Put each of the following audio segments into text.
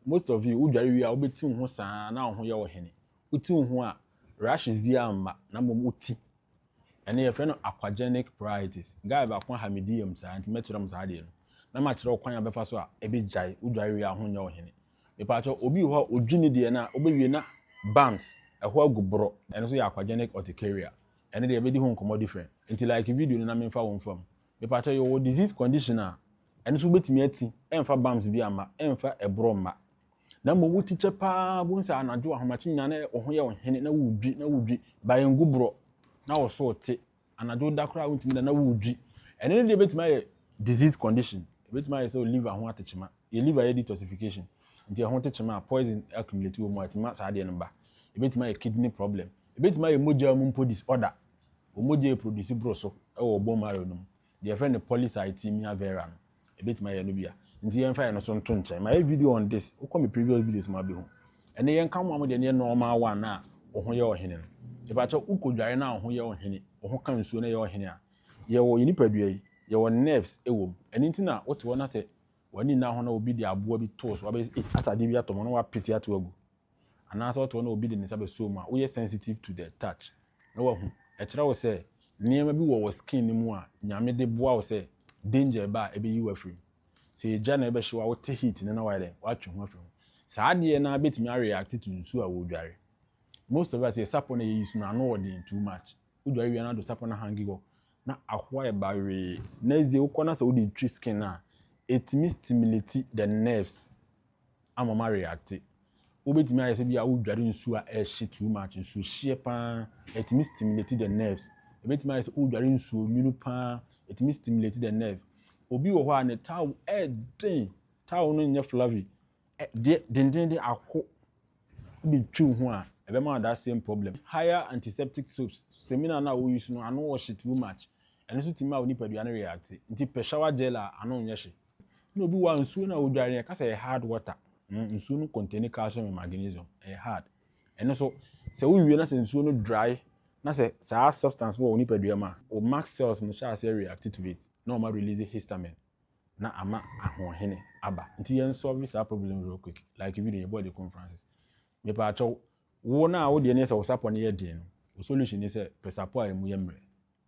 Most of you wo dware wie a wo bɛ ti wo ho saa na wo ho yɛ wo hene. Wo ti wo ho a rashes biara mma na mmom wo ti. Ɛno yɛfrɛ no aquagenic pruritus. Guy baako aha me DM saa nti mɛkyerɛ mo saa adeɛ no. Na makyerɛ wo kwan a bɛfa so a ɛbɛ gyae wo dware wie a wo ho nyɛ wo hene. Mepaakyɛw obi wɔ hɔ a odwi ne deɛ no a wobɛwie na bumps, ɛhɔ agu borɔ. Ɛno nso yɛ aquagenic urticaria. Ɛno deɛ yɛbɛdi ho nkɔmmɔ different. Nti like video no na memfa wo mfa mu. Mepakyɛw yɛwɔ disease condition a ɛno nso wobɛtumi ati ɛmfa bams bi amma, ɛmfa ɛborɔ mma. Na mmom wo ti kyɛ paa wobɛhu sɛ anadwo ahomakye nyinaa na wo ho yɛ wo hene na wodwi na wodwi by ngu borɔ na wo so te anadwo woda koraa wontumi da na wodwi ɛno no deɛ ɛbɛtumi ayɛ disease condition ɛbɛtumi ayɛ sɛ wo liver ho ate kyema yɛ liver yɛ detoxification nti ɛho te kyema a poison accumulate wɔ mu a ɛtumi ma saa adeɛ no ba ɛbɛtumi ayɛ kidney problem Ebetumi ayɛ mogya mu mpo disorder wɔ mogya a ɛproduce boro so wɔ bone marrow no mu, deɛ yɛfrɛ no polycythemia vera no, ɛbɛtumi ayɛ ɛno bi a. Nti yɛmfa ɛno nso nto nkyɛn. Mayɛ video on this, wokɔ me previous videos mu a wobɛhu. Ɛnnɛ yɛnka mo a mo deɛ no yɛ normal one no a wo ho yɛ ɔhene no. Mepakyɛw, wokɔdware na wo ho yɛ ɔhene, wo ho ka nsuo na ɛyɛ ɔhene a, yɛwɔ, yɛn nipadua yi, yɛwɔ nerves wɔ mu. Ɛno nti na wote hɔ na sɛ w'ani nna ho na obi de aboa bi too so, wabɛyɛ sɛ ei, atadeɛ bi atɔ me ho na wapete ato agu. anaasɛ ɔte hɔ na obi de ne nsa bɛsɔ wo mu a, woyɛ sensitive to the touch na wahu. Ɛkyerɛ wo sɛ nneɛma bi wɔ wɔ skin no mu a Nyame de boa wo sɛ danger ɛba a ɛbɛyi wo afiri mu. Sɛ egya na ɛbɛhye wo a wote heat no na wayɛ dɛn? Watwe ho afiri ho. Saa adeɛ no ara bɛtumi a react to nsuo a wodware. Most of us yɛ sapɔ na yɛyi so no ano wɔ den too much. Wodware wie a na ado sapɔ no ahange hɔ na ahoa ɛba wee. Next day wokɔ na sɛ wode twi skin no a ɛtumi stimulate the nerves. ama ma reacte wobɛtumi ayɛ sɛ bi a wodware nsuo a ɛhye too much nsuo hyeɛ paa ɛtumi stimulate the nerves ɛbɛtumi ayɛ sɛ wodware nsuo nwunu paa ɛtumi stimulate the nerve obi wɔ hɔ a ne taw ɛden taw no nyɛ flavy deɛ dendenden ako bɛtwiw ho a ɛbɛma that same problem higher antiseptic soaps semina no a woyi so no ano ɔhye too much ɛno nso tumi ma wo nipadua no reacte nti pɛ shower gel a ano nyɛ hye na obi wɔ nsuo no a ɔdware yɛka sɛ ɛyɛ hard water mm, nsuo no contain calcium and magnesium ɛyɛ hard ɛno so sɛ wowie na sɛ nsuo no dry na sɛ saa substance wɔ wo nipadua mu a wo mark cells no hyɛ aseɛ react to it na ɔma release histamine na ama ahoɔhene aba nti yɛn solve saa problem real quick like video yɛbɔ de conferences mepɛ akyɛw wo no a wodeɛ ne sɛ wo sapɔ no yɛ den no wo solution ne sɛ pɛ sapɔ a ɛmu yɛ mmerɛ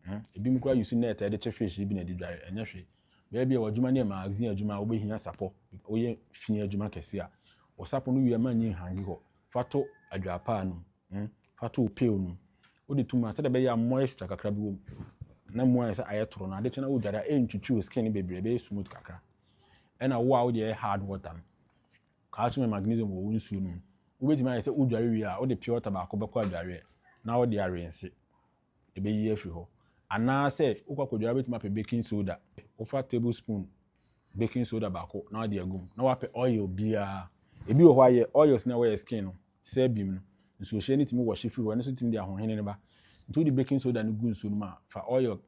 Huh? Ebinom koraa use net a yɛde kye fish yi bi na ɛde dware. Ɛnyɛ hwee. Bɛyɛ bi a w'adwuma no yɛ magazine adwuma a wobɛhia sapɔ. Woyɛ fi adwuma kɛse a, wo sapɔ no wie a mma nyi nhange hɔ. Fa to adwaapaa no mu. Hmm? Fa to wo pail no mu. Wode to mu a, sɛdeɛ ɛbɛyɛ a moisture kakra bi wɔ mu na mu ayɛ sɛ ayɛ toro no, ade kye na wodware a, ɛrentwitwi wo skin no bebree, ɛbɛyɛ smooth kakra. Ɛna wo a wode yɛ hard water no, calcium and magnesium wɔ wo nsuo no mu. Wobɛtumi ayɛ sɛ wodware wie a, wode pure water baako bɛkɔ adwareɛ na wode arense. ɛbɛyi afiri hɔ. Anaasɛ wokɔ akɔdware a, wobɛtumi apɛ baking soda. Wofa tablespoon baking soda baako na wode agu mu, na woapɛ oil biara. Ebi wɔ hɔ a, yɛ oils no a ɛwɔ yɛ skin no, sebum no, nsuohyɛ no tumi wɔhye firi hɔ, ɛno nso tumi de ahohene no ba. Nti wode baking soda no gu nsuo no mu a, fa oil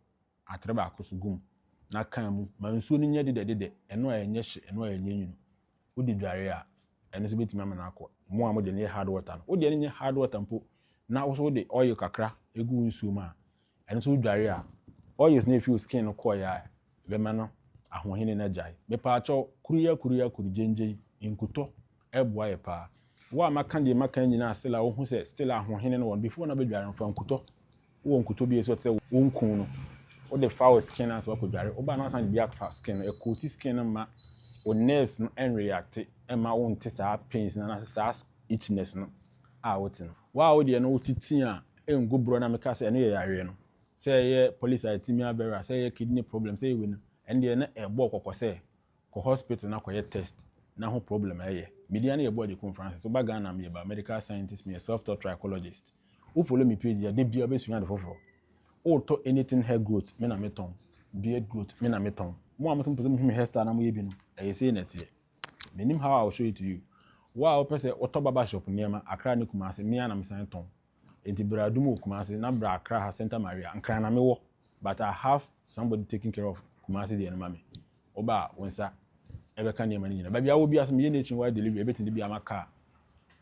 atere baako so gu mu na ka mu ma nsuo no nyɛ dedɛdedɛ, ɛno a ɛnyɛ hye, ɛno a ɛnyɛ nwunu. Wode dware a, ɛno nso bɛtumi ama no akɔ. Mo a mode no yɛ hard water no, wodeɛ no nyɛ hard water mpo na wo nso wode oil kakra gu wo nsuo mu a, ɛno nso wodware a, oils no a ɛfiri wo skin no kɔeɛ a, ɛbɛma no ahoɔhene no agyae. Mepaakyɛw, kuru yi akuru yi akuru, gyengyen, nkutɔ, Ɛboa yɛ paa. Wo a maka deɛ maka yi nyinaa still a wohu sɛ still a ahohene no wɔ no before na bɛdware no fa nkutɔ wowɔ nkutɔ bi a ɛsi hɔ te sɛ wo nkuu no wode fa wo skin no ansa wakɔdware woba no asan de bi afa skin no ɛkooti skin no ma wo nerves no ɛnreacte ɛma wo nte saa pains no anaasɛ saa itchiness no a wote no wo a wodeɛ no wote tii a ɛngu borɔ na meka sɛ ɛno yɛ yareɛ no sɛ ɛyɛ polycythemia vera sɛ ɛyɛ kidney problem sɛ ɛyɛ wei no ɛndeɛ na ɛbɔ kɔkɔ sɛ Kɔ hospital na kɔyɛ test na ho problem a ɛyɛ. Me dia ne yɛ Boadikum Francis. Wo ba Ghana a me yɛ ba medical scientist me yɛ self taught trichologist. Wo follow me page a da biara wo bɛ sua ade foforɔ. Wo tɔ anything hair growth me na me tɔn, beard growth me na me tɔn. Mo a mo se mo pɛ sɛ mo hu me hair style na mo yɛ bi no ɛyɛ sei na ɛteɛ. Me nim how I will show it to you. Wo a wo pɛ sɛ wo tɔ barber shop nneɛma Accra ne Kumasi me ara na me san tɔn. Enti bra adum wɔ Kumasi na bra Accra ha Santa Maria, Nkran na mewɔ but I have somebody taking care of Kumasi deɛ no ma me. Woba a wo nsa ɛbɛka nneɛma no nyinaa. Baabi a wowɔ biara sɛ meyɛ nationwide delivery ɛbɛtumi de bi ama car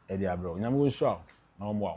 ɛde abrɛ wo. Nyame ɔnhyira wo na ɔmmoa wo.